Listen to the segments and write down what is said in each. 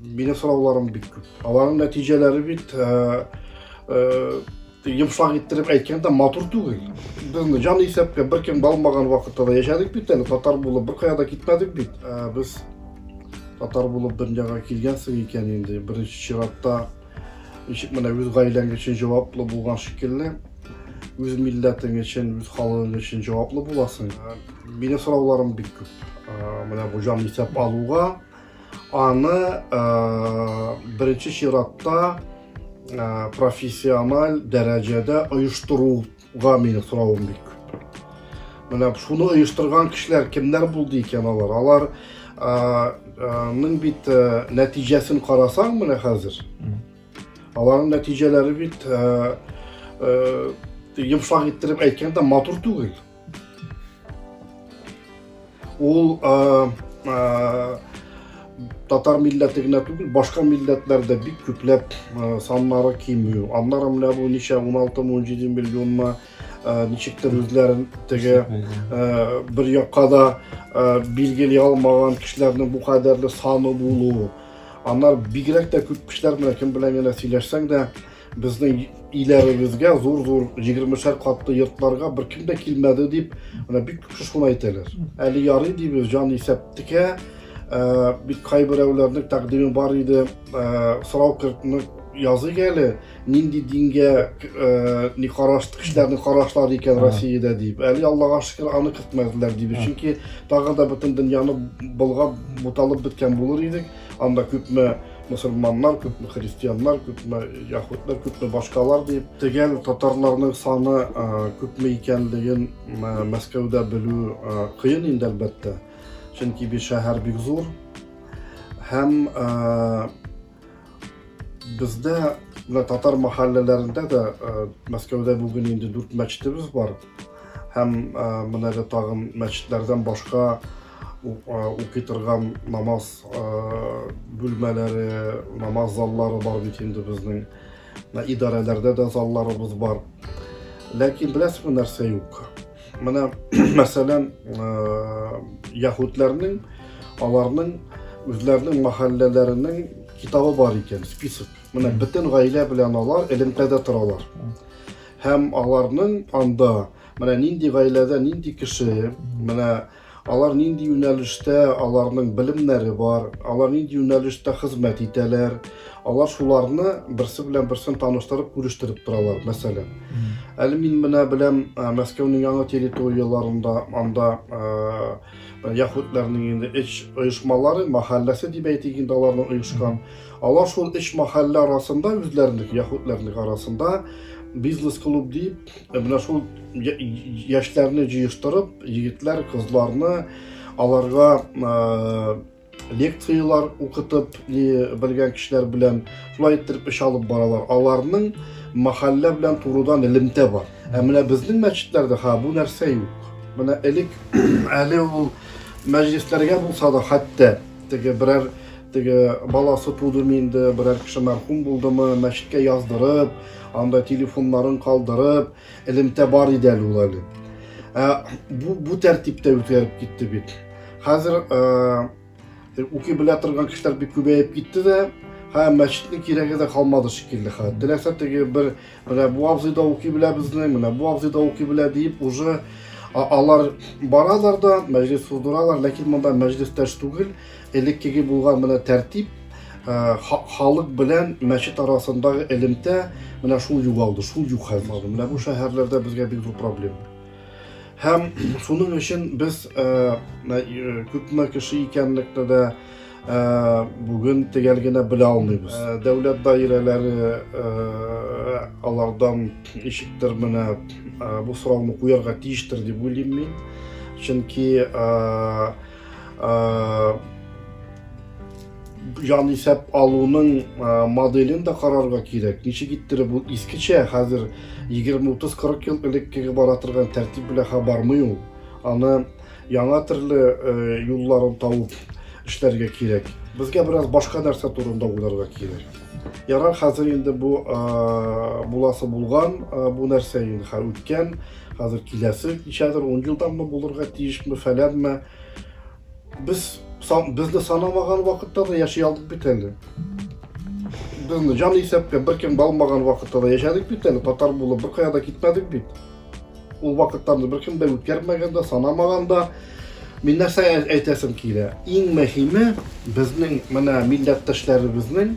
Мине сорауларым бик күп. Аларның нәтиҗәләре бит э, э, йомшак иттереп әйткәндә матур түгел. Безне җан исәпкә беркем балмаган вакытта да яшәдек бит әле, татар булып беркая да китмәдек бит. Ә без татар булып дөньяга килгәнсең икән инде, беренче чиратта ничек менә үз гаиләң өчен җаваплы булган шикелле, үз милләтең өчен, үз халыгың өчен җаваплы буласың. Ә, мине сорауларым бик күп. Ә, менә бу җан исәп алуга Аны ә, беренче чиратта ә, профессиональ дәрәҗәдә оештыруга мине соравым бик менә шуны оештырган кешеләр кемнәр булды икән алар алар ның бит нәтиҗәсен карасаң менә хәзер аларның нәтиҗәләре бит йомшак иттереп әйткәндә матур түгел Ул э, э, татар милләте генә түгел, башка милләтләрдә бик күпләп э, саннары кимү. Аннары менә бу ничә 16-17 миллионма ничектер үзләрен теге бер якка да билгели алмаган кешеләрнең бу кадәрле саны булуы. Аннар бигрәк тә күп кешеләр белән кем белән генә сөйләшсәң дә, Безнең иләребезгә зур-зур 20-шәр катлы йортларга бер кем дә килмәде дип, менә бик күп кеше шуны әйтәләр. Әле ярый дибез, җан исәптекә, ә, бик кайберәүләрнең тәкъдиме бар иде, ә, сорау кертне языйк әле, нинди дингә ә, ни караш кешеләрнең карашлары икән Россиядә дип. Әле Аллага шөкер, аны кертмәделәр дибез. Чөнки тагы да бөтен дөньяны болгап, буталып беткән булыр идек. Анда күпме мусульманнар, күпме христианнар, күпме яхутлар, күпме башкалар дип, тегәл татарларның саны күпме икәнлеген Мәскәүдә белү кыен инде әлбәттә. Чөнки бу шәһәр бик зур һәм бездә татар мәхәлләләрендә дә Мәскәүдә бүген инде дүрт мәчетебез бар. Һәм менә дә тагын мәчетләрдән башка укый торган намаз бүлмәләре, намаз заллары бар бит инде безнең. Идарәләрдә дә залларыбыз бар. Ләкин беләсезме нәрсә юк? Менә мәсәлән, яһүдләрнең аларның үзләренең мәхәлләләренең китабы бар икән, список. Менә бөтен гаилә белән алар элемтәдә торалар. Һәм аларның анда менә нинди гаиләдә нинди кеше, менә алар нинди юнәлештә аларның белемнәре бар, алар нинди юнәлештә хезмәт итәләр, алар шуларны берсе белән берсен таныштырып, күрештереп торалар, мәсәлән. Әле мин менә беләм, Мәскәүнең яңа территорияләрендә анда яхутларның инде эш оешмалары, мәхәлләсе дип әйтик инде аларның оешкан. Алар шул өч мәхәллә арасында үзләренең яһүдләрнең арасында бизнес-клуб дип, менә шул яшьләрне җыештырып, егетләр, кызларны аларга лекцияләр укытып белгән кешеләр белән шулай иттереп эш алып баралар. Аларның мәхәллә белән турыдан элемтә бар. Ә менә безнең мәчетләрдә ха бу нәрсә юк. Менә элек әле ул мәҗлесләргә булса да хәтта теге берәр теге баласы тудымы инде берәр кеше мәрхүм булдымы мәчеткә яздырып анда телефоннарын калдырып элемтә бар иде әле ул әле ә, бу, бу тәртиптә үткәреп китте бит хәзер ә, укый белә торган кешеләр бик күбәеп китте дә һәм мәчетнең кирәге дә калмады шикелле хәзер теләсә теге бер Менә бу абзый да укый белә безнең, менә бу абзый да укый белә диеп, уже алар баралар да, мәҗлес суздыралар, ләкин монда мәҗлестәш түгел, элеккеге булган менә тәртип, э, халык белән мәчет арасындагы элемтә менә шул югалды, шул юк хәзер. Менә бу шәһәрләрдә безгә бик зур проблема. Һәм шуның өчен без э, э, күпме кеше икәнлекне дә Ә, бүген төгәл генә белә алмыйбыз. Ә, дәүләт даирәләре ә, алардан ишектер менә ә, бу сорауны куярга тиештер дип уйлыйм мин. Чөнки ә, ә, җан исәп алуның ә, моделен дә карарга кирәк. Ничек иттереп ул искечә хәзер 20-30-40 ел элеккеге бара торган тәртип белән хабармый ул. Аны Яңа төрле юлларын табып эшләргә кирәк. Безгә бераз башка нәрсә турында уйларга кирәк. Ярар, хәзер инде бу буласы булган, бу нәрсә инде хәзер үткән, хәзер киләсе ничәдер 10 елданмы булырга тиешме, фәләнме. Без безне санамаган вакытта да яши алдык бит әле. Безне җан исәпкә беркем алмаган вакытта да яшәдек бит әле, татар булып беркая да китмәдек бит. Ул вакыттан беркем дә үткәрмәгән дә, санамаган да. Мин нәрсә әйтәсем килә? Иң мөһиме безнең менә милләттәшләребезнең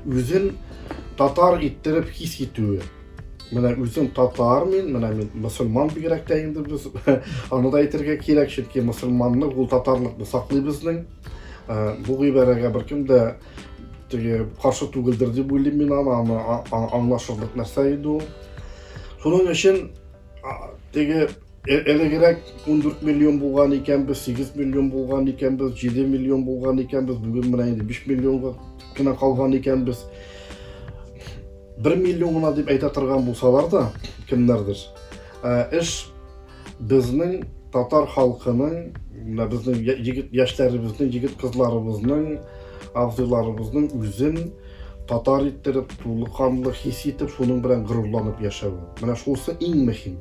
үзен татар иттереп хис итүе. Менә үзем татар мин, менә мин мусульман бигрәк тә инде без аны да әйтергә кирәк, чөнки мусульманны ул татарлыкны саклый безнең. Э, бу гыйбарәгә беркем дә теге каршы түгелдер дип уйлыйм мин аны, аны аңлашырлык нәрсә иде ул. Шуның өчен теге э, элегрәк 14 миллион булган икәнбез, 8 миллион булган икәнбез, 7 миллион булган икәнбез, бүген менә инде 5 миллионга гына калган икәнбез. 1 миллион гына дип әйтә торган булсалар да, кемнәрдер, э, эш Безнең татар халкының, менә безнең егет яшьләребезнең, егет кызларыбызның, абзыйларыбызның үзен татар иттереп, тулы канлы хис итеп, шуның белән горурланып яшәве. Менә шусы иң мөһим.